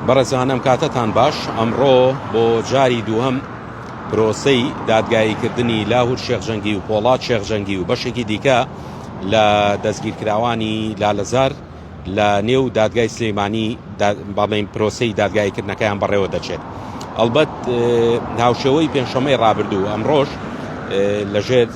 بەڕێزانم کاتەتان باش ئەمڕۆ بۆ جاری دووەم پرۆسەی دادگاییکردنی لاهور شێخجەنگی و پۆڵات شێخجەنگی و بەشێکی دیکە لە دەستگیرکراوانی لالەزار لە نێو دادگای سلەیمانی بەڵێن پرۆسەی دادگاییکردنەکەیان بەڕێوە دەچێت ئەلبەت هاوشێوەی پێنجشەمەی ڕابردوو ئەمڕۆژ لەژێر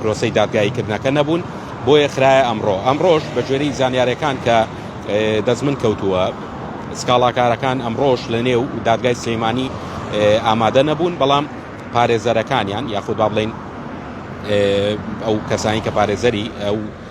پرۆسەی دادگایی کردنەکە نەبوون بۆیە خراە ئەمڕۆ ئەمڕۆش بە گوێرەی زانیارەکان کە دەستمن کەوتووە سکاڵاکارەکان ئەمڕۆش لە نێو دادگای سلەیمانی ئامادە نەبوون بەڵام پارێزەرەکانیان یاخود با بڵین ئەو کەسانی کە پارێزەری ئەو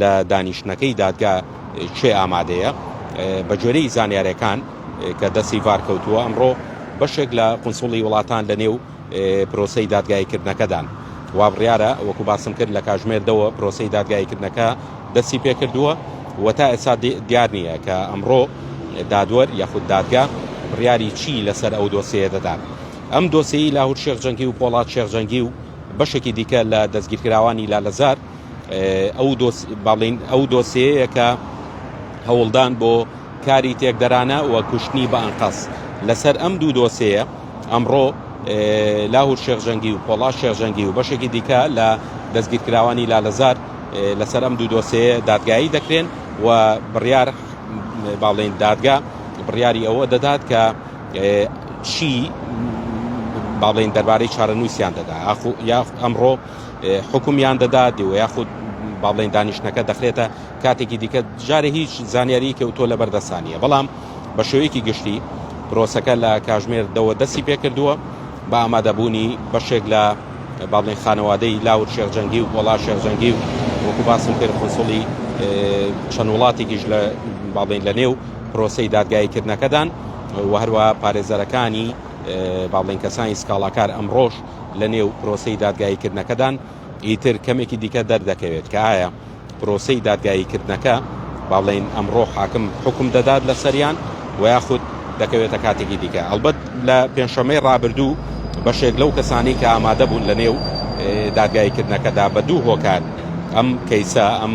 لە دانیشتنەکەی دادگا کێ ئامادەیە؟ بەگوێرەی زانیارییەکان کە دەستی ڤار کەوتووە، ئەمڕۆ بەشێک لە قونسوڵی وڵاتان لەنێو پرۆسەی دادگاییکردنەکەدان. وابڕیارە وەکو باسم کرد لە کاژمێردەوە پرۆسەی دادگاییکردنەکە دەستی پێکردووە و تا ئێستا دیار نییە کە ئەمڕۆ دادوەر یاخود دادگا بڕیاری چی لەسەر ئەو دۆسیەیە دەدات. ئەم دۆسیەی لاهور شێخ جەنگی و پۆڵاد شێخ جەنگی و بەشێکی دیکە لە دەستگیرکراوانی لالەزار ئەو دۆسێیە کە هەوڵدان بۆ کاری تێکدەرانە و کوشتنی بە ئەنقەس لەسەر ئەم دوو دۆسەیە ئەمڕۆ لاهور شێخژەنگی و پۆڵا شێخژەنگی و بەشێکی دیکە لە دەستگیرکراوانی لالەزار لەسەر ئەم دوو دۆسەیە دادگایی دەکرێن و بڕیار باڵێن دادگا بڕیاری ئەوە دەدات کە چی باڵێن دەربارەی چارەنووسیان دەدا یاخ ئەمڕۆ حوکمیان دەدات و یاخود با بڵێن دانیشتنەکە دەخرێتە کاتێکی دیکە جارێ هیچ زانیارییەکی و تۆ لەبەر دەسانیە بەڵام بە شێوەیەکی گشتی پرۆسەکە لە کاژمێر دەوە دەستی پێکردووە بە ئامادەبوونی بەشێک لە با بڵێن خانەوادەی لاور شێخجەنگی و گۆڵا شێخجەنگی و وەکو باسم کرد قنسڵی چەند وڵاتێکیش لە با بڵێن لە نێو پرۆسەی دادگاییکردنەکەدان و هەروە پارێزەرەکانی با بڵێن کەسانی سکاڵاکار ئەمڕۆژ لە نێو پرۆسەی دادگاییکردنەکەدان، ئیتر کەمێکی دیکە دەردەکەوێت کە ئایا پرۆسەی دادگاییکردنەکە با بڵێین ئەمڕۆ حاکم حوکم دەدات لەسەریان و یاخود دەکەوێتە کاتێکی دیکە. ئەڵبەت لە پێنجشەممەی ڕابردوو بەشێک لەو کەسانەی کە ئامادە بوون لە نێو دادگاییکردنەکەدا بە دوو هۆکار ئەم کەیسە، ئەم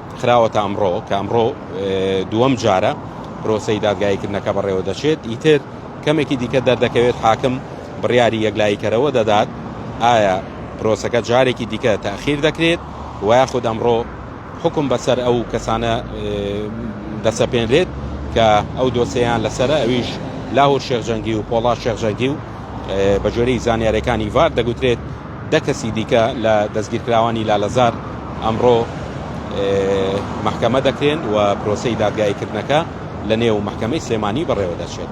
خراوەتە ئەمڕۆ کە ئەمڕۆ دووەم جارە پرۆسەی دادگایکردنەکە بەڕێوە دەچێت ئیتر کەمێکی دیکە دەردەکەوێت حاکم بڕیاری یەکلاییکەرەوە دەدات ئایا پرۆسەکە جارێکی دیکە تاخیر دەکرێت و یاخود ئەمڕۆ حکم بەسەر ئەو کەسانە دەسەپێنرێت کە ئەو دۆسەیان لەسرە ئەویش لاهور شێخ جەنگی و پۆڵا شێخ جەنگی و بەجۆری زانیارەکانی ڤار دەگوترێت دە کەسی دیکە لە دەستگیرکراوانی لالەزار ئەمڕۆ مەحکەمە دەکرێن و پرۆسەی دادگاییکردنەکە لەنێو مەحکەمەی سلێمانی بەڕێوەدەچێت.